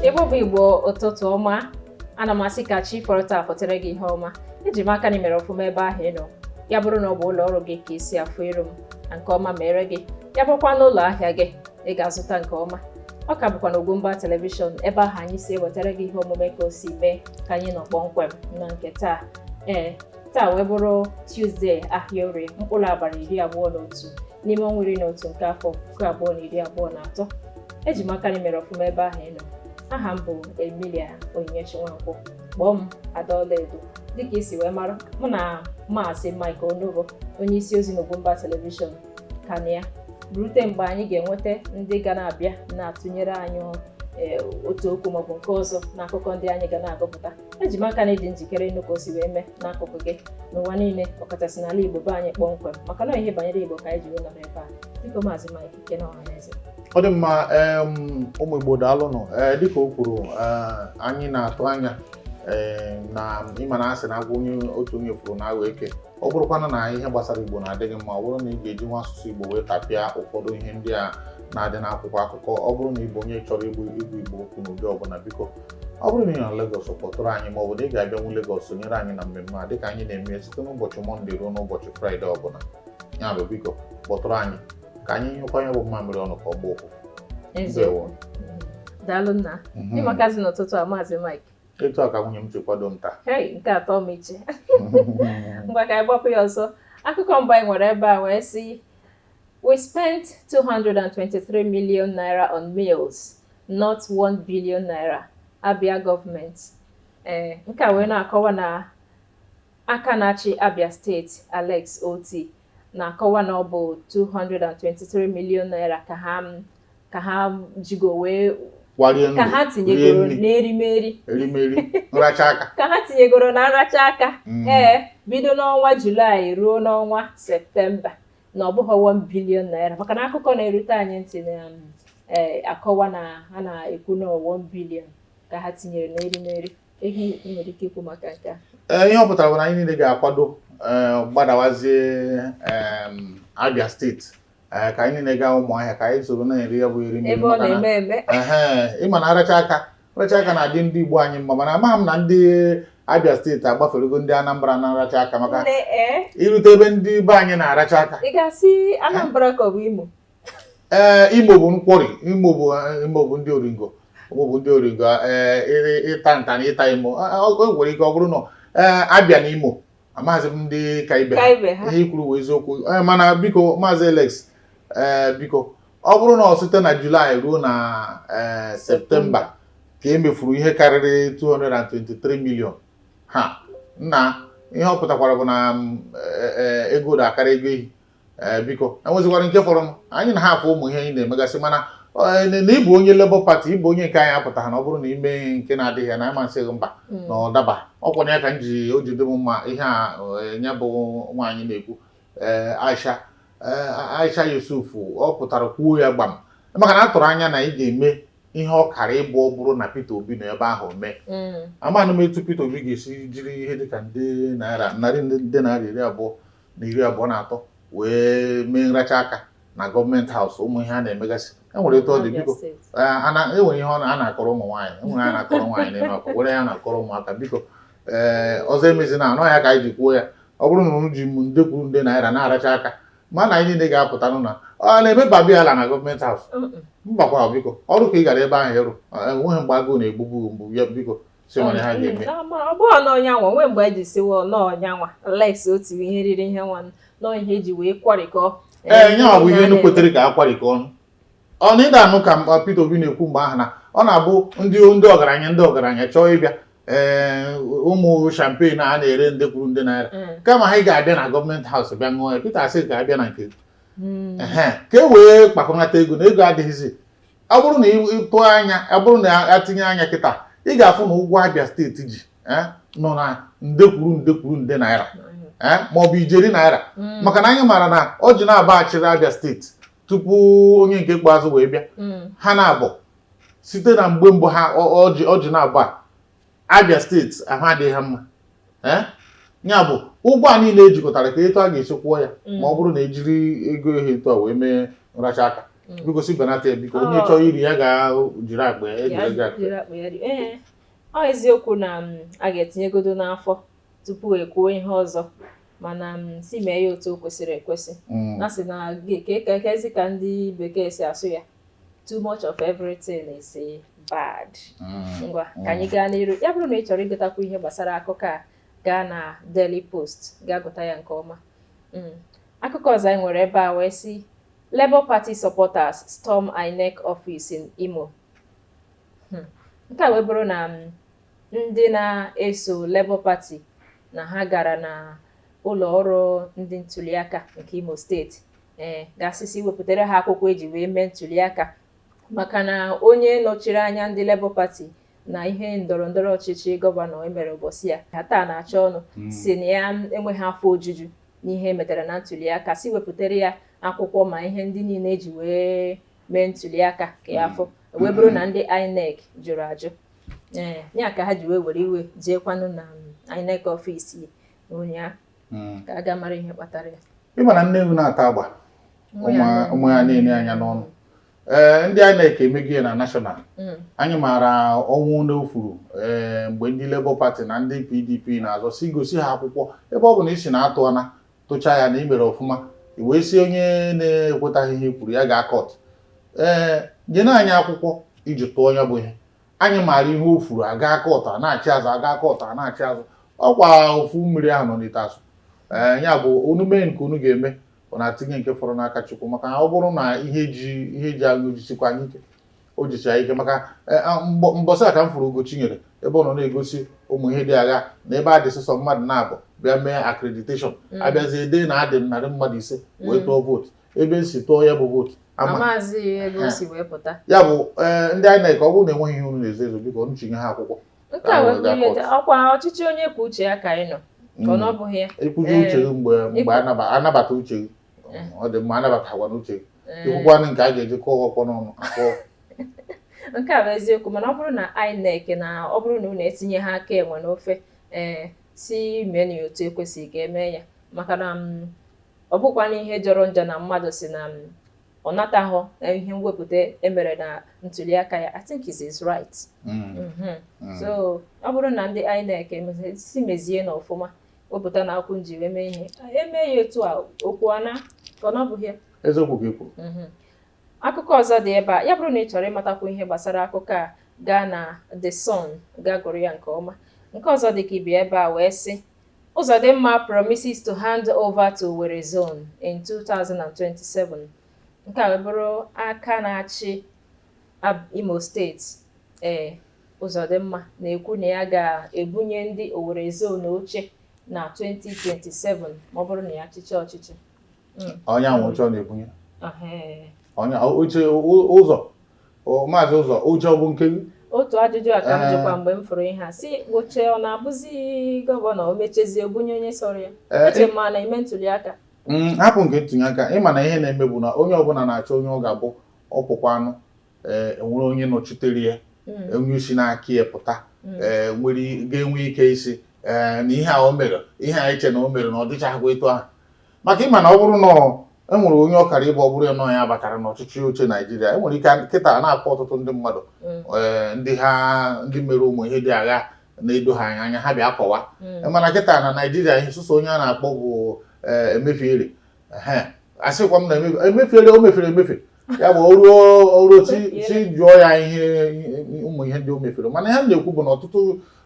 Igbo bụ igbo ụtụtụ ọma ana m asị ka chi fọrọ taa fọtara gị ihe ọma eji m aka na i mere ọfụma ebe ahụ ị nọ ya bụrụ na ọ bụ ụlọ ọrụ gị ka isi afụ iru m na nke ọma mere gị ya bụrụkwa n'ụlọ ahịa gị ị ga-azụta nke ọma ọ ka bụkwa na Ugwumba telivishọn ebe ahụ anyị si ewetara gị ihe omume ka o si mee ka anyị nọ kpọmkwem na nke taa ee taa wee bụrụ Tuzdee ahịa Orie mkpụrụ abalị iri abụọ na otu n'ime ọnwa iri na otu nke afọ puku abụọ na iri abụọ na atọ eji m aka na i mere ọfụma ebe ahụ ị nọ aha m bụ Emilia Onyinyechi Nwankwo kpọọ m Ada Ọlaedo dịka i si wee mara mụ na maazị Mike Onogo onye isi ozi n'Ugwumba telivishọn ka nọ ya rute mgbe anyị ga-enweta ndị ga na-abịa na-atụnyere anyị otu okwu maọbụ nke ọzọ n'akụkọ ndị anyị ga na-agụpụta eji m aka na ị dị njikere ịnụ ka o si wee mee n'akụkụ gị n'ụwa niile ọkachasị n'ala Igbo be anyị kpọmkwem maka na ihe banyere Igbo ka anyị ji wee nọrọ ebe a biko maazị Mike kene ọhaneze ọ dị mma ụmụ Igbo daalụnụ eh, dịka o kwuru eh, anyị na-atụ anya eh, na ị ma na a sị na agwọ onye otu onye hụrụ na-aghọ eke ọ bụrụkwana na ihe gbasara igbo na-adị gị mma ọ bụrụ na ị ga-ejinwu asụsụ igbo wee tapịa ụfọdụ ihe ndị a na-adị n'akwụkwọ akụkọ ọ bụrụ na ị bụ onye chọrọ igbu igbu igbo okwu n'ụdị ọbụla biko ọ bụrụ na ị nọ na Lagos kpọtụrụ anyị ma ọ bụ na ị ga-abịanwu Lagos sonyere anyị na mmemme a dịka anyị na-eme site n'ụbọchị mọnde ruo n'ụbọchị fraịde ọbụla ya bụ biko kpọtụrụ anyị ka anyị nyụkọọ ya bụ mmamịrị ọnụ ka ọ gbaa ụfụfụ daalụ nna mhm. ị makazi n'ụtụtụ a maazị Mike etu a ka nwunye m si kwado m taa nke atọ m iche ngwa ka anyị gbapụ ya ọsọ akụkọ mbụ anyị nwere ebe a wee sị we spent 223 million naira on meals not 1 billion naira abia gọọmenti ee eh, nke a wee na-akọwa na aka na-achị abia steeti alex otti na-akọwa na ọ bụ 223 million naira ka ha ka ha jigo wee kwarie ndụ ka ha rie tinyegoro nri n'erimeri erimeri nracha aka ka ha tinyegoro na nracha aka Mm. ee bido n'ọnwa julaị ruo n'ọnwa septemba na ọ bụghị 1 billion naira maka na akụkọ na-erute anyị ntị na um, eh, akọwa na ha na-ekwu na 1 billion ka ha tinyere n'erimeri Eh, ihe ọ pụtara bụ na anyị niile ga-akwado eh, gbadawazie Abia steeti eh, ka anyị niile gaa ụmụahịa ka anyị soro na-eri ya bụ eri ị ma na nracha aka nracha aka na-adị ndị Igbo anyị mma mana amaghị m na ndị Abia steeti agbaferego ndị Anambra na nracha aka maka i rute ebe ndị be anyị na-aracha aka ee eh, Imo bụ nkwori Imo bụ eh, Imo bụ ndị oringo Imo bụ ndị oringo ee eh, ịta nta na ịta imo o nwere ike ọ bụrụ na ee Abia na Imo amaghịzi m ndị ka ibe ihe i kwuru bụ eziokwu mana biko maazị Alex ee biko ọ bụrụ na ọ site na julaị ruo na ee septemba ka e mefuru ihe karịrị 223 million ha na ihe ọ pụtakwara bụ na mm, ego ụdọ akara ego ehi ee eh, biko enwezikwara nke fọrọ anyị na ha afụ ụmụ ihe anyị na-emegasị mana eh, na ịbụ onye Labour Party ịbụ onye nke anyị apụtaghị na ọ bụrụ na i mee nke na-adịghị ya na anyị ama asị gị mba hmm. na ọ daba ọ kwanụ ya ka m ji o ji dị m mma ihe a eh, ya bụ nwaanyị na-ekwu Aisha Aisha Yusuf ọ pụtara kwuo ya gbam maka na a tụrụ anya na ị ga-eme ihe ọ kara ịbụ ọ bụrụ na Peter Obi nọ ebe ahụ mee hmm. amaghị m etu Peter Obi ga-esi jiri ihe dịka nde naira narị nde naira iri abụọ na iri abụọ na atọ wee mee nracha aka na gọọmenti haus ụmụ ihe a na-emegasị enwere etu ọ dị biko enwere ihe a na-akọrọ ụmụ nwaanyị enwere a na-akọrọ nwaanyị n'ime akwa were ya na-akọrọ ụmụaka biko ee ọzọ emezina ọ ya ka anyị ji kwuo ya ọ bụrụ na unu ji m nde kwuru nde naira na-aracha aka ma na anyị niile ga-apụtanụ na ọ na-eme babiala na gọọmenti haus mbakwa biko ọrụ ka ị gara ebe ahụ ịrụ enweghị mgbe agụụ na-egbugbu mgbu ya biko si nwere ihe a ga-eme ọ bụghị na ọ nyanwa nwee mgbe anyị ji si wa na ọ nyanwa Alex Otti ri ihe riri ihe nwa na ọ ihe e ji wee kwarịkọọ ee nyanwa bụ ihe enu kwetere ka a kwarịkọ ọnụ ọ na ị da-anụ ka Peter Obi na-ekwu mgbe ahụ na ọ na-abụ ndị ndị ọgaranya ndị ọgaranya chọọ ịbịa ee ụmụ champagne a na-ere nde kwuru nde naira mm. kama ha ị ga-abịa na gọọmenti haus bịa ṅụọ ya Peter asị ga-abịa na nke mm. ka e wee kpakọnata ego na ego adịghịzi ọ bụrụ na ịtụ anya ọ bụrụ na a tinye anya kịta ị ga-afụ na ụgwọ Abia steeti ji eh, nọ na nde kwuru nde kwuru nde naira eh, ma ọ bụ ijeri naira mm. maka na anyị maara na Orji naabọ a chịrị Abia steeti tupu onye nke ikpeazụ wee bịa mm. ha naabọ site na mgbe mbụ ha Orji naabọ a Abia steeti ahụ adịghị ha mma ee ya bụ ụgwọ a niile e jikọtara ka etu a ga-esi kwụọ ya ma ọ bụrụ na ejiri ego ihe etu a wee mee nracha aka biko si benata ya biko onye Ọ. chọrọ iri ya ga-jiri akpa ya ejiri ego akpa jiri akpa ya ri- ee ọ eziokwu na m, a ga-etinyegodo n'afọ tupu ekwuo ihe ọzọ mana m si mee ya otu o kwesịrị ekwesị Mm. na sị na gị- ka ka- kezi ka ndị bekee si asụ ya too much of everything is bad mm. ngwa mm. ka anyị gaa n'iru ya bụrụ na ị chọrọ ịgụtakwu ihe gbasara akụkọ a gaa na Daily Post gaa gụta ya nke ọma mm. akụkọ ọzọ anyị nwere ebe a wee sị Labour Party supporters storm INEC office in Imo hmm. nke a wee bụrụ na ndị na-eso Labour Party na ha gara na ụlọ ọrụ ndị ntuliaka nke Imo steeti ee gaa sị sị wepụtara ha akwụkwọ eji wee mee ntuliaka maka na onye nọchiri anya ndị Labour Party na ihe ndọrọ ndọrọ ọchịchị gọvanọ emere ụbọchị a Athan Achonu hmm. sị na ya enweghị afọ ojuju n'ihe emetara na ntuliaka sị wepụtara ya akwụkwọ ma ihe ndị niile eji wee mee ntuliaka ka ya fụ hmm. wee bụrụ na ndị INEC jụrụ ajụ ee ya ka ha ji wee were iwe jeekwanụ na INEC ọfisi ụnyaahụ hmm. ka a ga mara ihe kpatara ya ị ma na nne ewu na-ata agba ụmụ ya na-ene ya anya n'ọnụ ee eh, ndị INEC emeghị ya na national hmm. anyị maara ọnwụ n'ofuru ee eh, mgbe ndị Labour Party na ndị PDP na-azọ sị gosi ha akwụkwọ ebe ọ bụ na ị sị na-atụ ana tụcha ya na i mere ọfụma wee sị onye na-ekwetaghị ihe i kwuru ya gaa kọt ee eh, nyenụ anyị akwụkwọ i ji tụọ ya bụ ihe anyị maara ihe o furu a gaa kọt a na-achị azụ a gaa kọt a na-achị azụ ọkwa ofu mmiri ahụ nọ n'ite asụ ee ya bụ unu mee nke unu ga-eme unu etinye nke fọrọ n'aka Chukwu maka na ọ bụrụ na ihe ji ihe ji anyị o jisikwa anyị ike o jicha ike maka e, a, mbọ- mbọsị a ka m fụrụ Ugochinyere ebe ọ nọ na-egosi ụmụ ihe dị agha na ebe a dị sọsọ mmadụ naabọ bịa mee accreditation abịazie dee na a dị narị mmadụ ise wee tụọ vootu ebe e si tụọ ya bụ vootu ya bụ eh, ndị INEC ọ bụrụ na enweghị ihe unu na-ezo ezo biko unu chinye ha akwụkwọ nke a wee ihe ọkwa ọchịchị onye kwuo uche ya ka anyị nọ ka ọ mm. bụghị ya i kwuzie uche gị eh, mgbe mgbe anabata uche gị eh. ọ dị mma anabataghịkwanụ uche gị i kwukwanụ nke a ga-eji kụọ ọkpọ n'ọnụ akụọ nke a bụ eziokwu mana ọ bụrụ na INEC na ọ bụrụ na unu etinyeha aka enwe n'ofe ee si mee na otu ekwesịghị ka emee ya maka na mm, Ọ bụkwanụ ihe jọrọ njọ na mmadụ sị na ọ nataghọ ihe mwepụta e mere na ntuliaka ya, I think it's his right. Mhm. So ọ bụrụ na ndị INEC emezi- si mezie na ọfụma wepụtanụ akwụ unu ji wee mee ihe eme ya etu a okwu ana ka ọ na ọ bụghị ya. Eziokwu ka i kwu. Mhm. Akụkọ ọzọ dị ebe a. Ya bụrụ na ị chọrọ ịmatakwu ihe gbasara akụkọ a, gaa na The Sun gaa gụrụ ya nke ọma. Nke ọzọ dị ka ibe ebe a wee sị, Uzodimma promises to hand over to Owerri Zone in 2027. Nke a bụrụ aka na-achị Imo steeti ee Uzodimma na-ekwu na ya ga-ebunye ndị Owerri Zone oche na 2027 ma ọ bụrụ na ya chịchaa ọchịchị. onye nwe oche ọ na-ebunye onye oche ụzọ maazị ụzọ oche ọ bụ nke gị otu ajụjụ a ka m jụkwa mgbe m fụrụ ihe a sị oche ọ na-abụzi gọvanọ o mechazie bunye onye sọrọ ya eche m a na-eme ntuli aka mm, hapụ nke ntuli aka ị ma na ihe na-eme bụ na onye ọbụla na-achọ onye ọ ga-abụ ọ pụkwanụ enwere onye nọchitere ya mm. onye si n'aka ya pụta mm. nwere ga-enwe ike ịsị na ihe a o mere ihe a eche na o mere na ọ dịchaghịkwa etu ahụ maka ịma na ọ bụrụ na e nwere onye ọ kara ịbụ ọ bụrụ ya na ya batara n'ọchịchị oche naijiria e nwere ike kịta na-akpọ ọtụtụ ndị mmadụ mm. eh, ndị ha ndị mere ụmụ ihe dịga na-edohụ anya ha bịa kọwa mm. mana kịta na naijiria ihe sọsọ onye a na-akpọ bụ eh, Emefiele asịkwa m na Emefiele o mefere emefe ya bụ o ruo o ruo echi jụọ ya ihe ụmụ ihe ndị o mefere mana ihe m na-ekwu bụ na ọtụtụ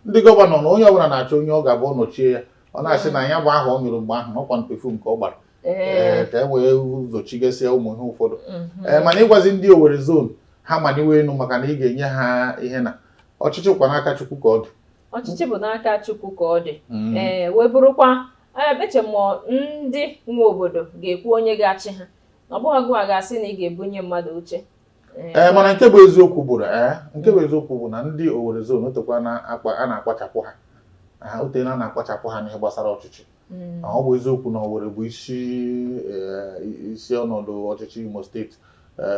ndị gọvanọ na onye ọbụla na-achọ onye ọ ga-abụ nọchie ya ọ na-asị na ya bụ ahụ ọ nyụrụ mgbe ahụ na ọkwa perfume nke ọ gbara ee ka e wee zochigasịa ụmụ ihe ụfọdụ mhm. ee mana ịgwazi ndị Owerri zon ha maniwe enu maka na ị ga-enye ha ihe na ọchịchị kwa n'aka Chukwu ka ọ dị ọchịchị bụ n'aka Chukwu ka ọ dị mm. ee wee bụrụkwa eche m ndị nwe obodo ga-ekwu onye ga-achị ha ọ bụghị gụwa ga-asị na ị ga-ebunye mmadụ oche ee eh, mana nke bụ eziokwu bụ eh, nke bụ eziokwu bụ na ndị Owerri zone otekwa a na-akpachapụ ha otena a na-akpachapụ ha n'ihe gbasara ọchịchị mm. ọ bụ eziokwu na Owerri bụ isi eh, isi ọnọdụ ọchịchị Imo steeti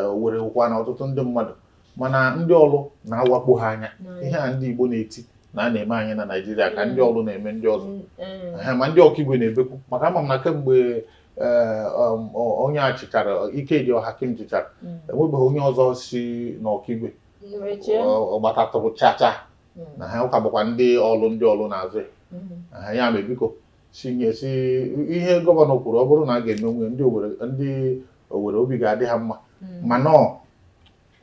o nwerekwanụ ọtụtụ ndị mmadụ mana ndị Orlu na-awakpo ha anya mm. ihe a ndị Igbo na-eti na a na-eme anyị na Naịjirịa ka ndị mm. Orlu na-eme ndị ọzọ ma ndị Okigwe na-ebekwu maka ama m na kemgbe onye a chịchara Ikedi Ohakim chịchara enwebeghị onye ọzọ si n'Okigwe ọgbatatụrụ chacha na ha ọ ka bụkwa ndị Orlu ndị Orlu na-azụ ha ya mere biko si nye si ihe gọvanọ kwuru ọ bụrụ na a ga-emenwu ya ndị Owerri ndị Owerri obi ga-adị ha mma mana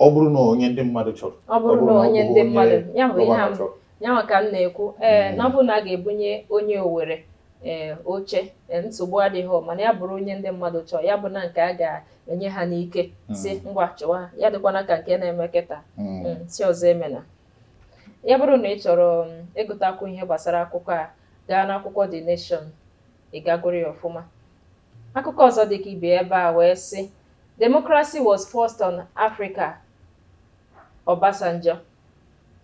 ọ bụrụ na onye ndị mmadụ chọrọ ọ bụrụ na onye ndị mmadụ ya bụ ihe m ya nwa ka m na-ekwu ee hmm. na ọ bụrụ na a ga-ebunye onye Owere ee oche nsogbu adịghị mana ya bụrụ onye ndị mmadụ chọọ ya abụna nke a ga-enye ha n'ike hmm. sị ngwa chịwa ya adịkwana ka nke a na-eme kịta hmm. sị ọzọ emena ya bụrụ na ị chọrọ ịgụtakwu ihe gbasara akụkọ a gaa n'akwụkwọ The Nation Ị ga-agụrụ ya ọfụma. Akụkọ ọzọ dị ka ibe ebe a wee sị Democracy was forced on Africa Obasanjo.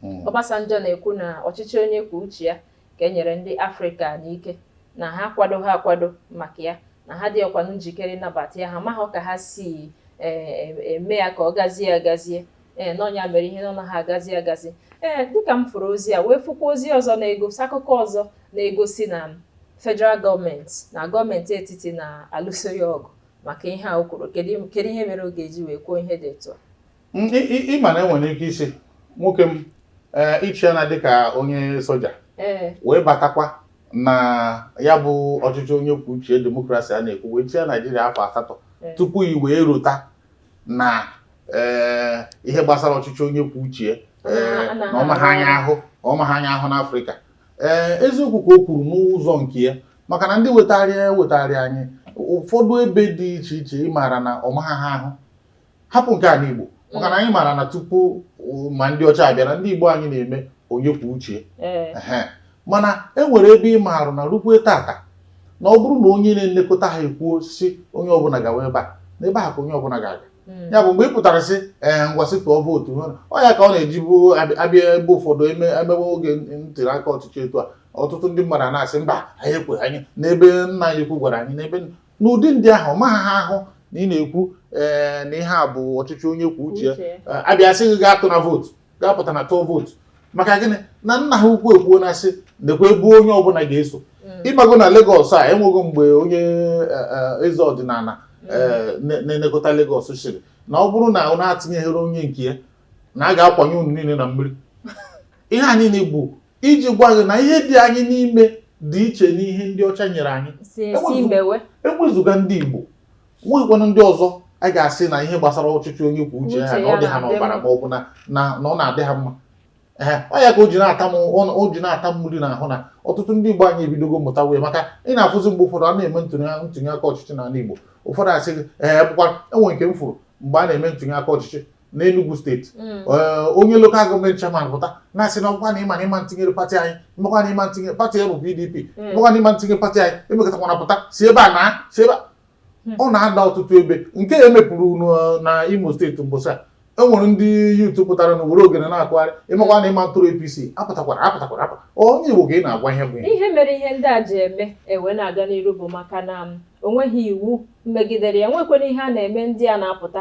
Hmm. Obasanjo na-ekwu na ọchịchị onye kwuo uche ya ka e nyere ndị Afrịka n'ike na ha akwadoha akwado maka ya na ha adịhọkwanụ njikere ịnabata ya ha amahụ ka ha si e, e, eme ya ka ọ gazie agazie ee na ọ nya mere ihe na ọ naha agazi agazi ee dịka m fụrụ ozi a wee fụkwa ozi ọzọ na-egosi akụkọ ọzọ na-egosi na federal gọọmenti na gọọmenti etiti na-alụso ya ọgụ maka ihe a o kwuru kedu ihe mere ọ ga-eji wee kwuo ihe dị etu a ịma na enwere ike ịsị nwoke m eh, ị chịana dịka onye soja eh. wee batakwa na ya bụ ọchịchị onye kwuo uche demokrasi a na-ekwu wee chịa naijiria afọ asatọ eh. tupu i wee rota na eh, ihe gbasara ọchịchị onye kwuo uche ya, eh, Ọ na- na ọ maghị anyị ahụ ọ maghị anyị ahụ n'afrịka ee eziokwu ka o kwuru n'ụzọ nke ya maka na ndị wetara ya wetara anyị ụfọdụ ebe dị iche iche ị maara na ọ maghị ha ahụ hapụ nke a n'igbo maka na anyị maara na tupu uh, ma ndị ọcha abịara ndị igbo anyị na-eme onye kwuo uche mana e nwere ebe ị maara na rukwe tata na ọ bụrụ na onye na-elekọta ha ekwuo sị onye ọbụla gawa ebe a na ebe a ka onye ọbụla ga-aga hmm. ya bụ mgbe ị pụtara sị ee eh, ngwa sị tụọ vootu ọ ya ka ọ na-eji abụ a bịa ebe ụfọdụ e mewe oge ntuli aka ọchịchị etu a ọtụtụ ndị mmadụ na-asị mba anyị ekwenye n'ebe nna anyị ukwu gwara anyị n'ebe n'ụdị ndị ahụ ọ maghị ha ahụ na ị na-ekwu ee na ihe a bụ ọchịchị onye kwuo uche ya. Uche. Eh, a bịa sị gị gaa tụ na vootu gaa pụta na tụọ vootu maka gịnị na nna ha ukwu ekwuona sị nekwa ebe onye ọbụla ga-eso ị mago na Lagos e nwego mgbe onye eh, eh, eze ọdịnala eh, na- na-elekọta Lagos sịrị na ọ bụrụ na unu etinyeghịrị onye nke ya na a ga-akwanye unu niile na mmiri ihe a niile bụ iji gwa gị na ihe dị anyị n'ime dị iche n'ihe ndị ọcha nyere anyị si esi Enweghị- mewe ewezuga ndị Igbo nweghịkwanụ ndị ọzọ a ga-asị na ihe gbasara ọchịchị onye kwuo uche ya Uche na ọ ya dị ha na-adị n'ọbara mma. ma ọ bụ na na na ọ na-adị ha mma ee ọ ya ka o ji na-ata m ọ- o ji na-ata m mmiri n'ahụ na ọtụtụ ndị Igbo anyị ebidogo mụtawe maka ị na-afụzi mgbe ụfọdụ a na-eme ntụnye ntụnye aka ọchịchị n'ala Igbo ụfọdụ asị gị ee bụkwa e nwere nke m fụrụ mgbe a na-eme ntụnye aka ọchịchị n'Enugu steeti mm. eh, onye local government chairman pụta na-asị na ọgwa na ịma na ịma ntinyere pati anyị makwa na ịma ntinyere pati ya bụ PDP mm. makwa na ịma ntinyere pati anyị emekatakwana pụta si ebe a na si ebe hmm. ọ na-ada ọtụtụ ebe nke e mepụrụ eh, na Imo steeti mbọsị a e nwere ndị youth pụtara na were ogene na-akụgharị ịmakwa na ịma ntụrụ APC apụtakwala apụtakwala apụ onye Igbo ka ị na-agwa ihe bụ ihe mere ihe ndị a ji eme wee na-aga n'iru bụ maka na o nweghị iwu megidere ya nwekwana ihe a na-eme ndị a na-apụta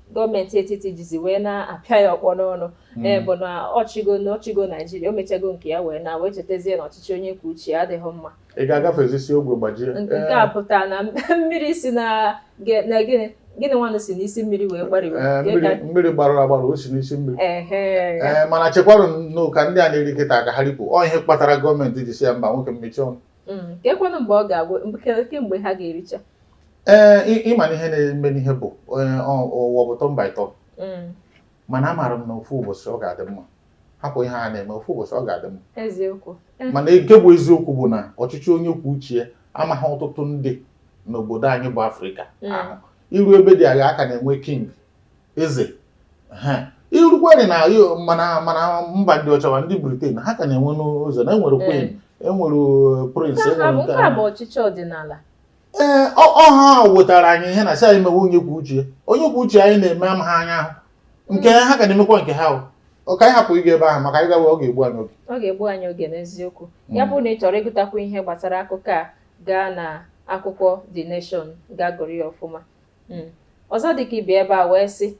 gọọmenti etiti jizi wee na-apịa ya ọkpọ n'ọnụ hmm. eh, bụ na ọ chịgo na ọ chịgo naijiria o mechago nke ya wee na wee chetazie na ọchịchị onye kwuo uche adịghị mma ị ga-agafezisi ogwe gbajie nke eh. a pụtara na mmiri si na gịnị gịnị nwanụ si n'isi mmiri wee gbarụwe eh, mmiri gbarụrụ agbarụ o si n'isi mmiri ee mana chekwarụnụ ka ndị a na-eri kịta ka ha ripụ ọ ihe kpatara gọọmenti ji sị ya mba nwoke m mechie ọnụ hmm. kekwanụ mgbe ọ ga-agwụ kee mgbe ha ga-ericha ee eh, ị ma na ihe na-eme n'ihe bụ eh, ụwa bụ turn by turn mm. mana amaara m na ofu ụbọchị ọ ga-adị mma hapụ ihe a na-eme ofu ụbọchị ọ ga-adị mma eh. mana nke bụ eziokwu bụ na ọchịchị onye kwuo uche ya amaghị ọtụtụ ndị n'obodo anyị bụ afrịka mm. ahụ i ru ebe dị aghaa a ka na-enwe king eze i rukwadị na ma na ma na mba ndị ọcha ma ndị Britain ha ka na-enwe n'ụzọ na e nwere queen e nwere prince e nwere nke a bụ ọchịchị ọdịnala ee ọ- ọ ha ahụ wetara anyị ihe na sị anyị mewe onye kwuo uche ya. onye kwuo uche anyị na-eme ama ha anya ahụ nke ha ka na-emekwa nke ha o. ọ ka anyị hapụ ịga ebe ahụ maka anyị gawa ọ ga-egbu anyị oge ọ ga-egbu anyị oge n'eziokwu ya bụ na ị chọrọ ịgụtakwu ihe gbasara akụkọ a gaa na akwụkwọ The Nation gaa gụrụ ya ọfụma Mm. ọzọ dịka ibi ebe a wee sị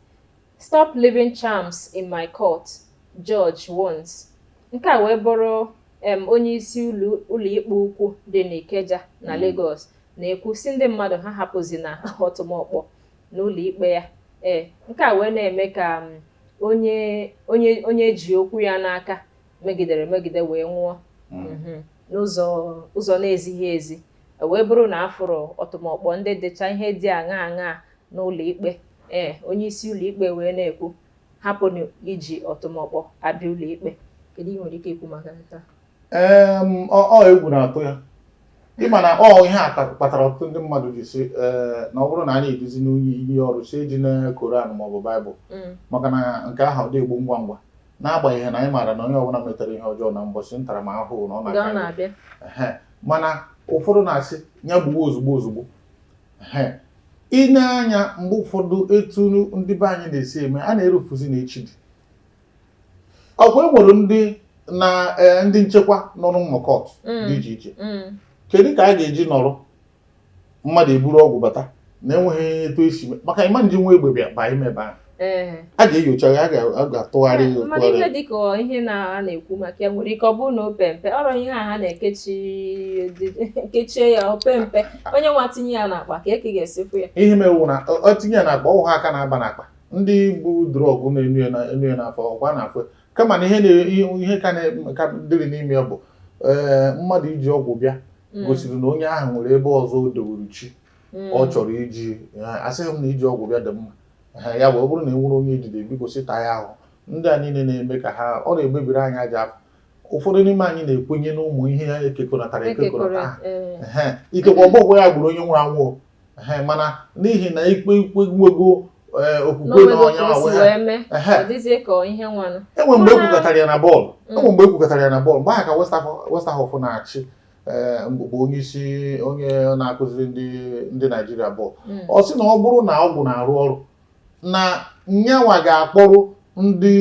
Stop leaving charms in my court, Judge warns. Nke a wee bụrụ um onyeisi ụlọ ụlọikpe ukwu dị n'Ikeja na Lagos na-ekwu sị ndị mmadụ ha ahapụzina ọtụmọkpọ n'ụlọikpe ya. Ee, nke a wee na-eme ka um onye onye onye eji okwu ya n'aka megidere megide wee nwụọ mhm, n'ụzọ ụzọ na-ezighị ezi. E wee bụrụ na a fụrụ ọtụmọkpọ ndị dịcha ihe dị aṅaa aṅaa n'ụlọ ikpe ee onye isi ụlọ ikpe wee na-ekwu hapụnụ iji ọtụmọkpọ abịa ụlọ ikpe kedu ihe i nwere ike ikwu maka nke a ee ọ egwu na-atụ ya ị ma na ọ ihe a kpatara ọtụtụ ndị mmadụ ji sị ee na ọ bụrụ na anyị eduzinụ onye iyi ọrụ sị ejina koran maọbụ baịbụl mm. maka na nke ahụ adị egbu ngwa ngwa n'agbanyeghị na anyị maara na onye ọbụla metara ihe ọjọọ na mbọchị ntaramahụhụ na ọ na-abịa mana ụfọdụ na-asị ya gbuo ozugbo ozugbo i nee anya mgbe ụfọdụ etu ndị be anyị na-esi eme a na-erofuzi na echi dị ọkwa e nwere ndị na e, ndị nchekwa nọ n'ụmụ kọọtụ mm. dị iche iche mm. kedu ka a ga-eji nọrọ mmadụ eburu ọgwụ bata na enweghị etu esi maka ị ma-ejinwu egbe bịa baa ime ebe ahụ a ga-enyocha ya a ga-atụgharị ya mana ihe dịka ihe a na-ekwu maka ya nwere ike ọ bụrụ na o pee mpe ọ bụrụ ihe a ha na-ekechie ya o pee mpe onye nwa tinye ya n'akpa ka eke ga-esikwu ya ihe mewu na ọ tinye ya n'akpa ọ wụ ha aka na-aba n'akpa ndị bu drọgụ na-eno ya n'afọ ọkwa n'afọ kama na ihe ka dịrị n'ime ya bụ eh, mmadụ iji ọgwụ bịa hmm. gosiri na onye ahụ nwere ebe ọzọ o dowere chi hmm. ọ chọrọ iji eh, asịghị m na iji ọgwụ bịa dị mma ha ya wụ ọ bụrụ na e nwere onye e jide biko sịta ya ahụ ndị a niile na-eme ka ha ọ na-egbebiri anyị aja afọ ụfọdụ n'ime anyị na-ekwenye n'ụmụ ihe a ekekọnatara ekekọnata ha eh. ikekwe ọ bụghị ya gburu onye nwụrụ anwụ mana n'ihi na i kwe i kwe nwego eh, okwukwe na onye enwe mgbe ekwukọtara ya na bọọlụ enwe mgbe ekwukọtara ya na bọọlụ mgbe ahụ ka Westerhof na-achị Eh, bụ onye isi onye na-akụziri ndị ndị Naijiria bọọlụ hmm. ọ sị na ọ bụrụ na ọgwụ na-arụ ọrụ na nyanwa ga-akpọrọ ndị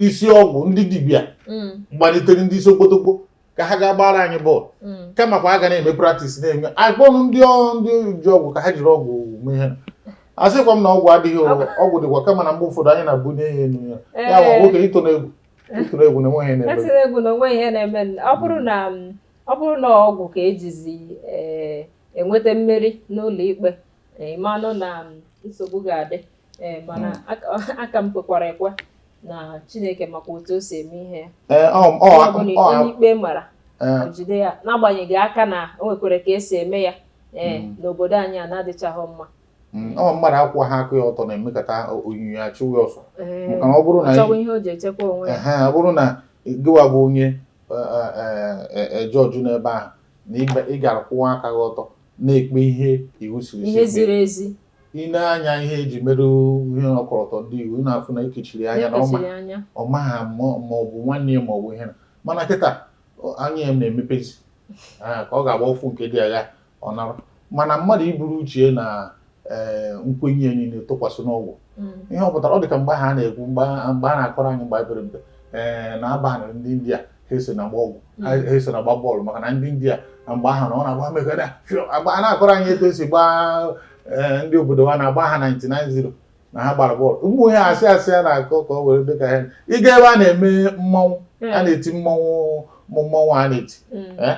isi ọgwụ ndị dibịa hmm. gbalitere ndị isi okpotokpo ka ha ga gbaara anyị bọọlụ hmm. kamakwa a ga na-eme praktis na-eme a kpọrọ ndị ndị ji ọgwụ ka ha jiri ọgwụ mee ihe asịkwa m na ọgwụ adịghị ọgwụ dịkwa kama na mgbe ụfọdụ anyị na-ebuni ya enu ya ya nwoke ito na egwu etiri egwu na onweghị ihe na-eme ọ bụrụ na ọ bụrụ na ọgwụ ka ejizi eh, enweta mmeri n'ụlọ ikpe eh, ịmanụ na nsogbu ga-adị eh, mana hmm. aka m kwekwara ekwe na Chineke makwa otu o si eme ihe ya onye ikpe mara jide ya n'agbanyeghị aka na o nwekwara ka esi eme ya ee hmm. n'obodo anyị a na-adịchaghị mma Mm, ọ mmadụ akwụwaha aka ya ọtọ na-emekata onyinyo ya achụwa ya ọsọ Ee, Maka na ọ bụrụ na- chọwa ihe o ji echekwa onwe ya Ehe, ọ bụrụ na gịwa bụ onye jọjụ n'ebe ahụ na ịba- ị gara kwụwa aka gị ọtọ na-ekpe ihe iwu siri ihe si ziri ezi kpee. i nee anya ihe eji mere ihe ọkọlọtọ ndị iwu ị na-afụ na ekechiri ya anya na ọma na ekechiri anya ọ maghị ma ma ọ bụ nwanne ya ma ọ bụ ihe na mana kịta ọ- anya ya na-emepezi Ah, ka ọ ga-agba ụfụ nke dị aghaa ọ nara mana mmadụ iburu uche ya na ee nkwenye ya niile tụkwasị n'ọgwụ ihe ọ pụtara ọ dị ka mgbe ahụ a na-ekwu mgbe a mgbe a na-akọrọ anyị mgbe anyị pere mpe ee na a banịrị ndị India ha esona agba ọgwụ ha ha esona agba bọọlụ maka na ndị India na mgbe ahụ na ọ na-agba mega na fio agba a na-akọrọ anyị etu esi gbaa ee, ndị obodo ha na-agba ha 99-0 na ha gbara bọọlụ ụmụ ihe asị asị a na-akọ ka ọ were dị ka ha ịga ebe a na-eme mmanwụ a na-eti mmanwụ mmanwụ a na-eti Eh,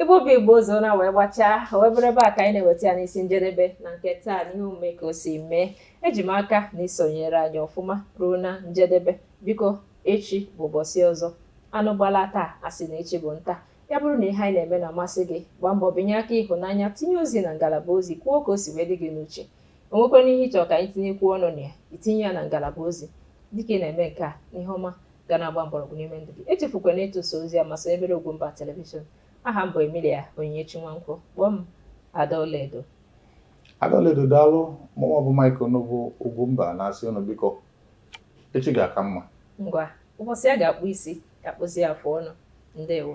Igbo bụ Igbo ụzọ na wee gbachaa wee bụrụ ebe a ka anyị na-eweta ya n'isi njedebe na nke taa n'ihe omume ka o si mee eji m aka na isonyere anyị ọfụma ruo na njedebe biko echi bụ ụbọchị ọzọ anụ gbalaa taa asị na echi bụ nta ya bụrụ na ihe anyị na-eme na-amasị gị gbaa mbọ binye aka ịhụnanya tinye ozi na ngalaba ozi kwuo ka o si wee dị gị n'uche onwekwana ihe ịchọ ka anyị tinyekwuo ọnụ na ya itinye ya na ngalaba ozi dịka ị na-eme nke a n'ihe ọma ga na-agba mgbọrọgwụ n'ime ndụ gị echefukwana ịtụsa ozi a ma sonyebere Ugwumba Television aha m bụ Emilia Onyinyechi Nwankwo kpọọ m Ada Ọlaedo Ada Ọlaedo daalụ mụnwa bụ Mike Onugbu Ugwumba na-asị ụnụ biko echi ga-aka mma ngwa ụbọchị a ga-akpụ isi ka a kpụzie afụ ọnụ ndewo